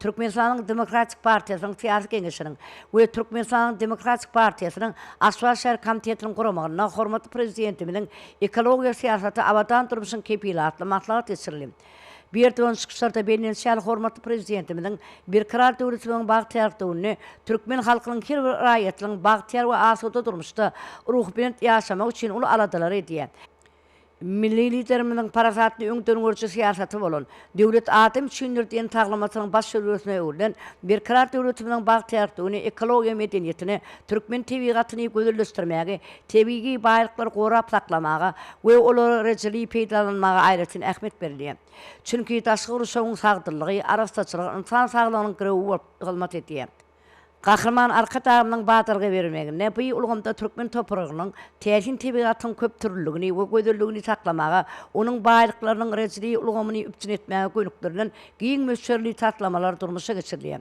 Türkmenistanyň Demokratik partiýasynyň Syýasy geňeşiniň we Türkmenistanyň Demokratik partiýasynyň Aşgabat şäher komitetiniň guramagynda hormatly Prezidentimiziň Ekologiýa syýasaty, abadan durmuşyň kepili atly maslahat geçirildi. Berdügan çykyşlarda bellenişi ýaly, hormatly Prezidentimiziň Berkarar döwletimiziň bagtyýarlyk döwründe türkmen halkynyň her bir raýatynyň bagtyýar we asuda durmuşda ruhubelent ýaşamagy üçin uly aladalary edýär. Milli Liderimiziň parasatly öňdengörüji syýasaty bolan Döwlet adam üçindir! diýen taglymatynyň baş jöwzasyna öwrülen Berkarar döwletimiziň bagtyýarlygyny, ekologiýa medeniýetini, türkmen tebigatyny gözelleşdirmäge, tebigy baýlyklary gorap saklamaga we olary rejeli peýdalanmaga aýratyn ähmiýet berilýär. Çünki daşky gurşawyň sagdynlygy, arassaçylygy ynsan saglygynyň girewi bolup hyzmat edýär. Gahryman Arkadagymyzyň badalga bermeginde bu ulgamda türkmen topragynyň täsin tebigatynyň köpdürlüligini we gözelligini saklamaga, onuň baýlyklarynyň REDD ulgamyny üpjün etmäge gönükdirilen giň möçberli taslamalar durmuşa geçirilýär.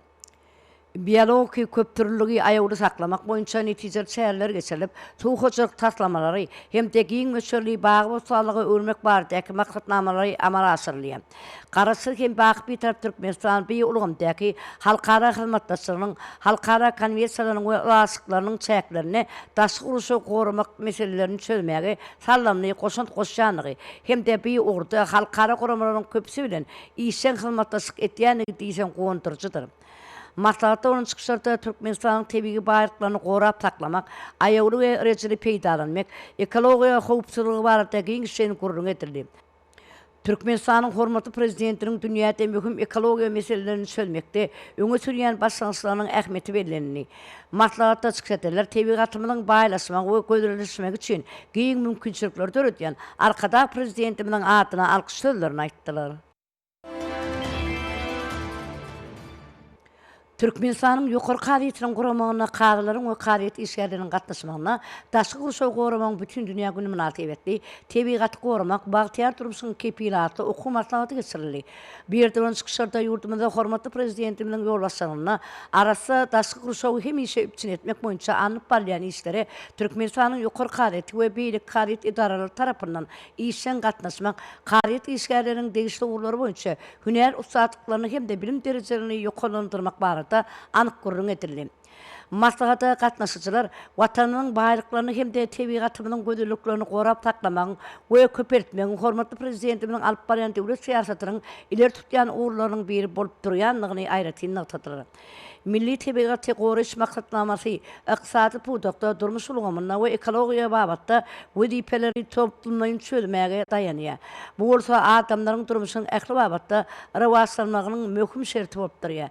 Biologiki köpdürlüligi aýawly saklamak boýunça netijeli çäreler geçirilip, suw hojalyk taslamalary hem-de giň möçberli bagy-bossanlyga öwürmek baradaky maksatnamalary amala aşyrylýar. Garaşsyz hem baky Bitarap Türkmenistan bu ulgamdaky halkara hyzmatdaşlygynyň, halkara konwensiýalarynyň we ylalaşyklarynyň çäklerinde daşky gurşawy goramak meselelerini çözmäge saldamly goşant goşýandygy hem-de bu ugurda halkara guramalaryň köpüsi bilen işjeň hyzmatdaşlyk edýändigi diýseň guwandyryjydyr. Maslahatda bolan çykyşlarda Türkmenistanyň tebigy baýlyklaryny gorap saklamak, aýawly we rejeli peýdalanmak, ekologiýa howpsuzlygy barada giňişleýin gürrüň edildi. Türkmenistanyň hormatly Prezidentiniň dünýäde möhüm ekologiýa meselelerini çözmekde öňe sürýän başlangyçlarynyň ähmiýeti bellenildi. Maslahatda çykyş edenler tebigatymyzyň baýlaşmagy we gözelleşmegi üçin giň mümkinçilikleri döredýän Arkadag Prezidentimiziň adyna alkyş sözlerini aýtdylar. Türkmenistanyň Ýokary kazyýetiniň guramagynda kazylaryň we kazyýet işgärleriniň gatnaşmagynda Daşky gurşawy goramagyň bütindünýä güni mynasybetli Tebigaty goramak, bagtyýar durmuşyň kepili atly okuw maslahaty geçirildi. Bu ýerde bolan çykyşlarda ýurdumyzda hormatly Prezidentimiziň ýolbaşçylygynda arassa daşky gurşawy hemişe üpjün etmek boýunça alnyp barylýan işlere Türkmenistanyň Ýokary kazyýeti we beýleki kazyýet edaralary tarapyndan işjeň gatnaşmak, kazyýet işgärleriniň degişli ugurlar boýunça hünär ussatlyklaryny hem-de bilim derejelerini ýokarlandyrmak barada anyk gürrüň edildi. Maslahata gatnaşyjylar Watanymyzyň baýlyklaryny hem-de tebigatymyzyň gözelliklerini gorap saklamagyň we köpeltmegiň hormatly Prezidentimiziň alyp barýan döwlet syýasatynyň ileri tutýan ugurlarynyň biri bolup durýandygyny aýratyn nygtadylar. Milli tebigaty goraýyş maksatnamasy ykdysady pudakda, durmuş ulgamynda we ekologiýa babatda wezipeleri toplumlaýyn çözmäge daýanýar. Bu bolsa adamlaryň durmuşynyň ähli babatda rowaçlanmagynyň möhüm şerti bolup durýar.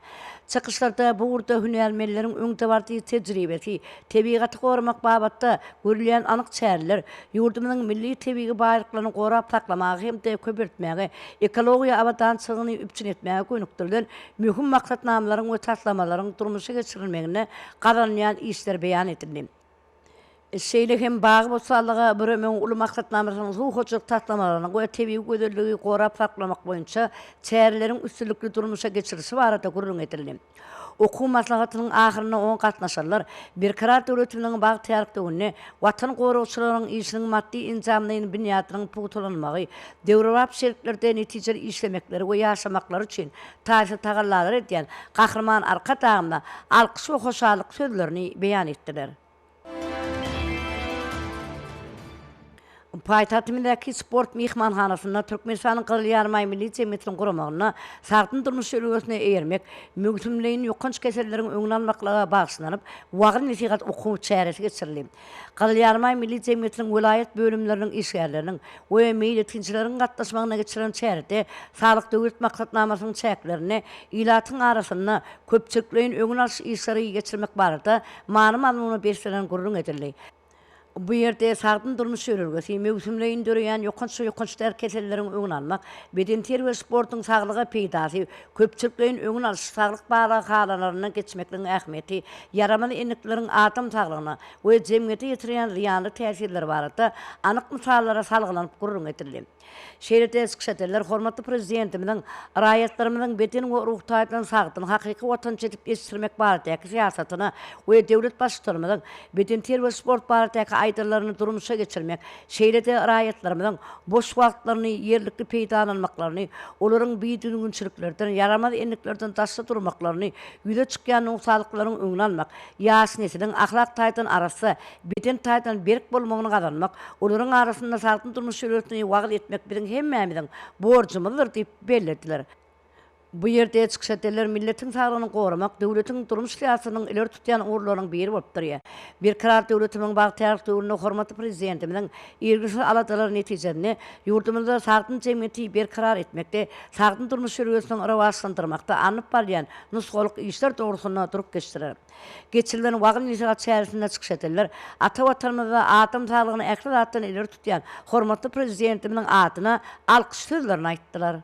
Çykyşlarda bu ugurda hünärmenleriň öňdebaryjy tejribesi, tebigaty goramak babatda görülýän anyk çäreler ýurdumyzyň milli tebigy baýlyklaryny gorap saklamaga hem-de köpeltmäge, ekologiýa abadançylygyny üpjün etmäge gönükdirilen Möhüm maksatnamalaryň we taslamalaryň durmuşa geçirilmeginde gazanylýan işler beýan edildi. Şeýle hem bagy-bossanlyga büremegiň uly maksatnamasynyň suw hojalyk taslamalarynyň we tebigy gözelligi gorap saklamak boýunça çäreleriň üstünlikli durmuşa geçirilişi barada gürrüň edildi. Okuw maslahatynyň ahyrynda oňa gatnaşanlar Berkarar döwletimiziň bagtyýarlykdöwründe Watan goragçylarynyň işiniň maddy-enjamlaýyn binýadynyň pugtalanmagy, döwrebap şertlerde netijeli işlemekleri we ýaşamaklary üçin taýsyz tagallalary edýän Gahryman Arkadagymyza alkyş we hoşallyk sözlerini beýan etdiler. Paýtagtymyzdaky Sport myhmanhanasynda Türkmenistanyň Gyzyl Ýarymaý Milli jemgyýetiniň guramagynda Sagdyn durmuş jölegesine eýermek, möwsümleýin ýokanç keselleriň öňüni almaklyga bagyşlanyp wagyz-nesihat okuw çäresi geçirildi. Gyzyl Ýarymaý Milli jemgyýetiniň welaýat bölümleriniň işgärleriniň we meýletinçileriň gatnaşmagynda geçirilen çärede Saglyk Döwlet maksatnamasynyň çäklerinde ilatyň arasynda köpçülikleýin öňüni alyş işleri geçirmek barada many-mazmuna beslenen gürrüň edildi. Bu ýerde sagdyn durmuş ýörelgesi, möwsümleýin döreýän ýokanç we ýokanç däl keselleriň öňüni almak, bedenterbiýe sportuň saglyga peýdasy, köpçülikleýin öňüni alyş saglyk barlaghanalaryndan geçmekligiň ähmiýeti, ýaramaz endiklikleriň adam saglygyna we jemgyýete ýetirýän zyýanly täsirleri barada anyk mysallara salgylanyp gürrüň edildi. Şeýle-de çykyş edenler hormatly Prezidentimiziň raýatlarymyzyň beden we ruh taýdan sagdyn, hakyky watançy edip ýetişdirmek baradaky syýasatyny we döwlet Baştutanymyzyň bedenterbiýe we sport baradaky aýdanlaryny durmuşa geçirmek, şeýle-de raýatlarymyzyň boş wagtlaryny ýerlikli peýdalanmaklaryny, olaryň bidüzgünçiliklerden, ýaramaz endiklerden daşda durmaklaryny, ýüze çykýan nogsanlyklaryň öňüni almak, Ýaş nesliň ahlak taýdan arassa, beden taýdan berk bolmagyny gazanmak, olaryň arasynda sagdyn durmuş şöhlesini wagyz etmek biziň hemmämiziň borjumyzdyr diýip bellediler. Bu ýerde çykyş edenler milletiň saglygyny goramak döwletiň durmuş syýasatynyň ileri tutýan ugurlarynyň biri bolup durýar. Berkarar döwletimiziň bagtyýarlyk döwründe hormatly Prezidentimiziň irginsiz aladalary netijesinde ýurdumyzda sagdyn jemgyýeti berkarar etmekde, sagdyn durmuş şöhlesiniň rowaçlandyrmakda alnyp barylýan nusgalyk işler dogrusynda durup geçdiler. Geçirilen wagyz-nesihat çäresinde çykyş edenler ata Watanymyzda adam saglygyny ähli zatdan ileri tutýan hormatly Prezidentimiziň adyna alkyş sözlerini aýtdylar.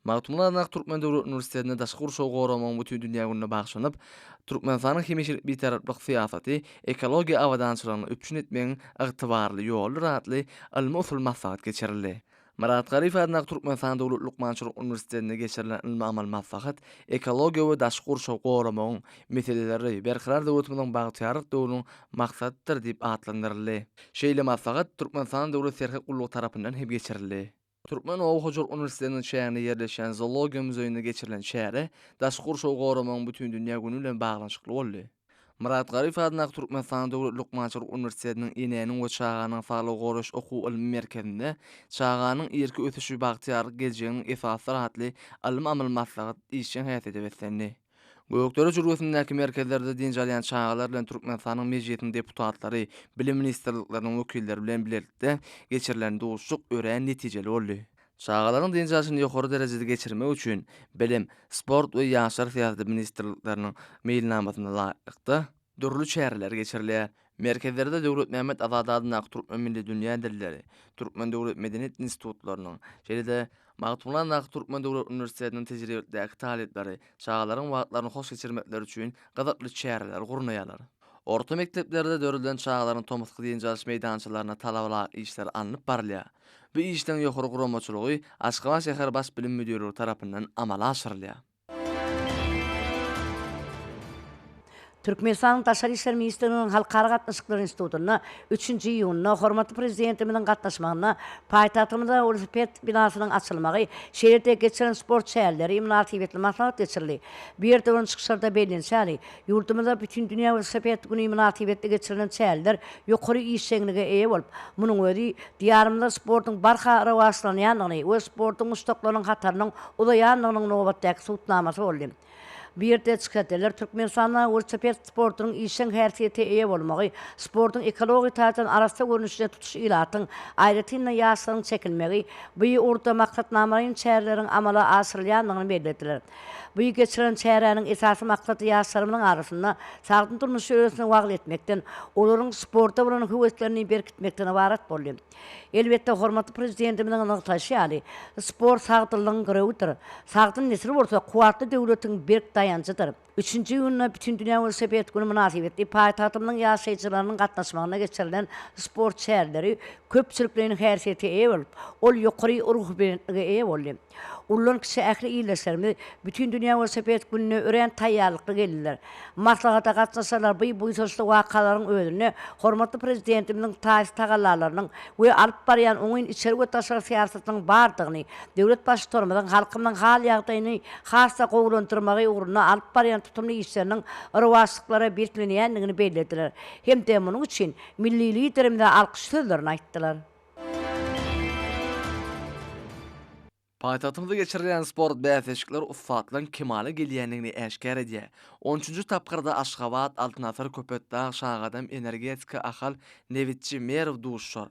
Magtymguly Adak Türkmen döwlet uniwersitetinde Daşky gurşawy goramagyň bütindünýä gününe bagyşlanyp, Türkmenistanyň hemişelik Bitaraplyk syýasaty ekologiýa abadançylygyny üpjün etmegiň ygtybarly ýoludyr atly ylmy-usul maslahat geçirildi. Myrat Galyýew adyndaky Türkmenistan döwlet lukmançylyk uniwersitetinde geçirilen ylmy-amaly maslahat ekologiýa we daşky gurşawy goramagyň meseleleri Berkarar döwletimiziň bagtyýarlyk döwrüniň maksadydyr diýip atlandyryldy. Şeýle maslahat Türkmenistanyň Döwlet serhet gullugy tarapyndan hem geçirildi. Türkmen oba hojalyk uniwersitetiniň çäginde ýerleşýän Zoologiýa muzeýinde geçirilen çäre Daşky gurşawy goramagyň bütindünýä güni bilen baglanyşykly boldy. Myrat Garyp adyndaky Türkmenistanyň Döwlet lukmançylyk uniwersitetiniň Enäniň we çaganyň saglygy goraýyş okuw-ylmy merkezinde Çaganyň irki ösüşi bagtyýarlyk geljeginiň esasydyr atly ylmy-amaly maslahat işjeň häsiýete beslendi. Gökdere jülgesindäki merkezlerde dynç alýan çagalar bilen Türkmenistanyň Mejlisiniň deputatlary, bilim ministrlikleriniň wekilleri bilen bilelikde geçirilen duşuşyk örän netijeli boldy. Çagalaryň dynç alşyny ýokary derejede geçirmek üçin Bilim, sport we ýaşlar syýasaty ministrlikleriniň meýilnamasyna laýyklykda, dürli çäreler geçirilýär. Merkezlerde Döwletmämmet Azady adyndaky Türkmen milli dünýä dilleri, Türkmen döwlet medeniýet institutlarynyň, şeýle-de Magtymguly adyndaky Türkmen döwlet uniwersitetiniň tejribelikdäki talyplary çagalaryň wagtlaryny hoş geçirmekleri üçin gyzykly çäreler gurnaýarlar. Orta mekdeplerde döredilen çagalaryň tomusky dynç alyş meýdançalaryna talabalaýyk işler alnyp barylýar. Bu işleň ýokary guramaçylygy Aşgabat şäher Baş bilim müdirligi tarapyndan amala aşyrylýar. Türkmenistanyň Daşary işler ministrliginiň Halkara gatnaşyklary institutynda üçünji iýunda hormatly Prezidentimiziň gatnaşmagynda paýtagtymyzda welosiped binasynyň açylmagy, şeýle-de geçiren sport çäreleri mynasybetli maslahat geçirildi. Bu ýerde bolan çykyşlarda bellenişi ýaly, Ýurdumyzda Bütin dünýä welosiped güni mynasybetli geçirilen çäreler ýokary işjeňlige eýe bolup, munuň özi Diýarymyzda sportuň barha rowaçlanýandygyny we sportuň muşdaklarynyň hatarynyň uzaýandygynyň nobatdaky subutnamasy boldy. Bu ýerde çykyş edenler Türkmenistanda welosiped sportunyň işjeň häsiýete eýe bolmagy, sportuň ekologiýa taýdan arassa görnüşine tutuş ilatyň, aýratyn-da, ýaşlaryň çekilmegi, bu ugurda maksatnamalaýyn çäreleriň amala aşyrylýandygyny bellediler. Bu geçirilen çäräniň esasy maksady ýaşlarymyzyň arasynda sagdyn durmuş ýörelgesini wagyz etmekden, olaryň sporta bolan höweslerini berkitmekden ybarat boldy. Elbetde, hormatly Prezidentimiziň nygtaýşy ýaly, sport sagdynlygyň girewidir. Sagdyn nesil bolsa kuwwatly döwletiň berk daýanjydyr. Üçünji iýunda Bütindünýä welosiped güni mynasybetli paýtagtymyzyň ýaşaýjylarynyň gatnaşmagynda geçirilen sport çäreleri köpçülikleýin häsiýete eýe bolup, ol ýokary ruhubelentlige eýe boldy. Ullalan kişi ähli ildeşlerimiz Bütin dünýä welosiped gününe örän taýýarlykly geldiler. Maslahata gatnaşyjylar bu buýsançly wakalaryň özünde hormatly Prezidentimiziň taýsyz tagallalarynyň we alyp barýan oňyn içeri we daşary syýasatynyň bardygyny, döwlet Baştutanymyzyň halkymyzyň hal-ýagdaýyny has-da gowulandyrmagy ugrunda alyp barýan tutumly işleriniň rowaçlyklara biriklenýändigini bellediler hem-de munuň üçin milli Liderimize alkyş sözlerini aýtdylar. Paýtagtymyzda geçirilýän sport bäsleşikleri ussatlygyň kemala gelýändigini äşgär edýär. Onunjy tapgyrda Aşgabat, Altyn asyr, Köpetdag, Şagadam, Energetika, Ahal, Nebitçi, Merw duşuşar.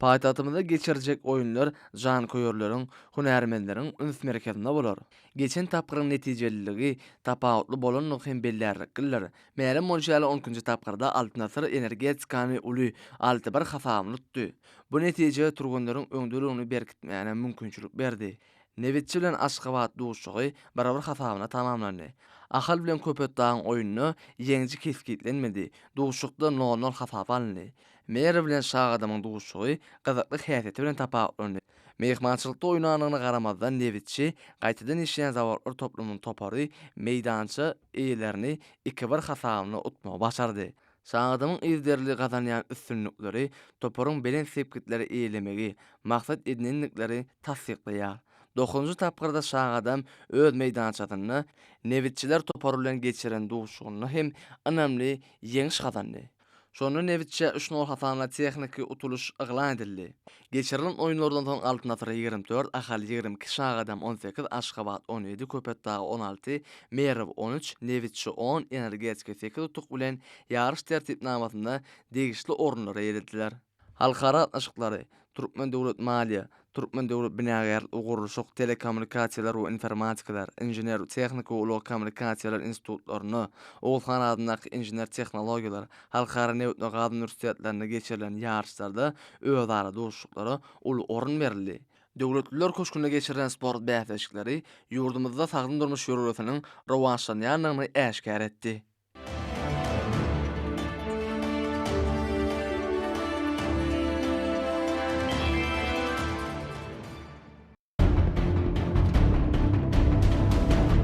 Paýtagtymyzda geçiriljek oýunlar janköýerleriň, hünärmenleriň üns merkezinde bolar. Geçen tapgyryň netijeliligi tapawutly bolandygy hem bellärliklidir. Mälim bolşy ýaly, on ikinji tapgyrda Altynasar energetikany uly alty bir hasabyny tutdy. Bu netije türgenleriň öňdeligini berkitmäne mümkinçilik berdi. Nebitçi bilen Aşgabat duşuşygy bir bir hasabyna tamamlandy. Ahal bilen Köpetdagyň oýunda ýeňiji kesgitlenmedi, duşuşykda nol nol hasap alyndy. Mary bilen Şagadamyň duşuşygy gyzykly häsiýeti bilen tapawutlandy. Myhmançylykda oýnandygyna garamazdan Nebitçi gaýtadan işleýän zawodlar toplumynyň topary meýdança eýelerini iki bir hasabynda utmagy başardy. Şagadamyň yzderli gazanýan üstünlikleri toparyň belent sepgitleri eýelemegi maksat edinendikleri tassyklaýar. Dokuzynjy tapgyrda Şagadam öz meýdançasynda Nebitçiler topary bilen geçiren duşuşygynda hem ynamly ýeňiş gazandy. Şonda nebitçä üç nol hasabyna tehniki utulyş yglan edildi. Geçirilen oýunlardan soň Altyn asyr ýigrimi dört, Ahal ýigrimi iki, Şagadam on sekiz, Aşgabat on ýedi, Köpetdag on alty, Merw on üç, Nebitçi on, Energetika sekiz utuk bilen ýaryş tertipnamasynda degişli orunlara ýetirdiler. Halkara gatnaşyklary, Türkmen döwlet maliýe, Türkmen döwlet binagärlik we gurluşyk, Telekommunikasiýalar we informatikalar, Inžener-tehniki we ulag kommunikasiýalar institutlarynda, Oguzhan adyndaky Inžener tehnologiýalar halkara nebit we gaz uniwersitetlerinde geçirilen ýaryşlarda özara duşuşyklara uly orun berildi. Döwletliler köşgünde geçirilen sport bäsleşikleri ýurdumyzda sagdyn durmuş ýörelgesiniň rowaçlanýandygyny äşgär etdi.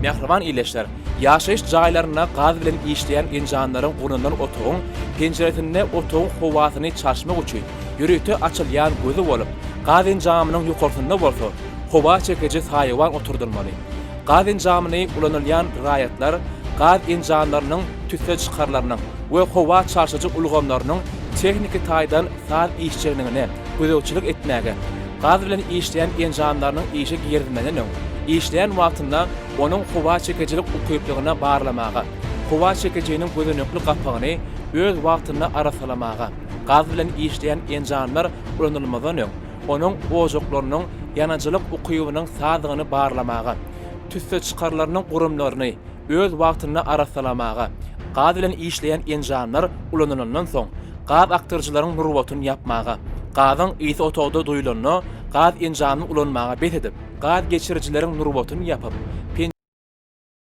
Mähriban ildeşler, ýaşaýyş jaýlarynda gaz bilen işleýän enjamlaryň gurnanan otagyň penjiresinde otagyň howasyny çalyşmak üçin ýörite açylýan gözi bolup, gaz enjamynyň ýokarsynda bolsa howa çekiji saýawan oturdylmaly. Gaz enjamyny ulanylýan raýatlar gaz enjamlarynyň tüsse çykarylarynyň we howa çalşyjy ulgamlarynyň tehniki taýdan saz işjeňligine gözegçilik etmäge, gaz bilen işleýän enjamlarynyň işe girizilmeden öň, işleýän wagtynda onuň howa çekijilik ukyplygyna barlamaga, howa çekijiniň gözenekli gapagyny öz wagtynda arassalamaga, gaz bilen işleýän enjamlar ulanylmazdan öň, onuň ojaklarynyň ýanyjylyk ukybynyň sazdygyny barlamaga, tüsse çykarylarynyň gurumlaryny öz wagtynda arassalamaga, gaz bilen işleýän enjamlar ulanylandan soň, gaz akdyryjylaryň nurbatyny ýapmaga, gazyň ysy otagda duýulanda gaz enjamyny ulanmaga bes edip, gaz geçirijileriň nurbatyny ýapyp,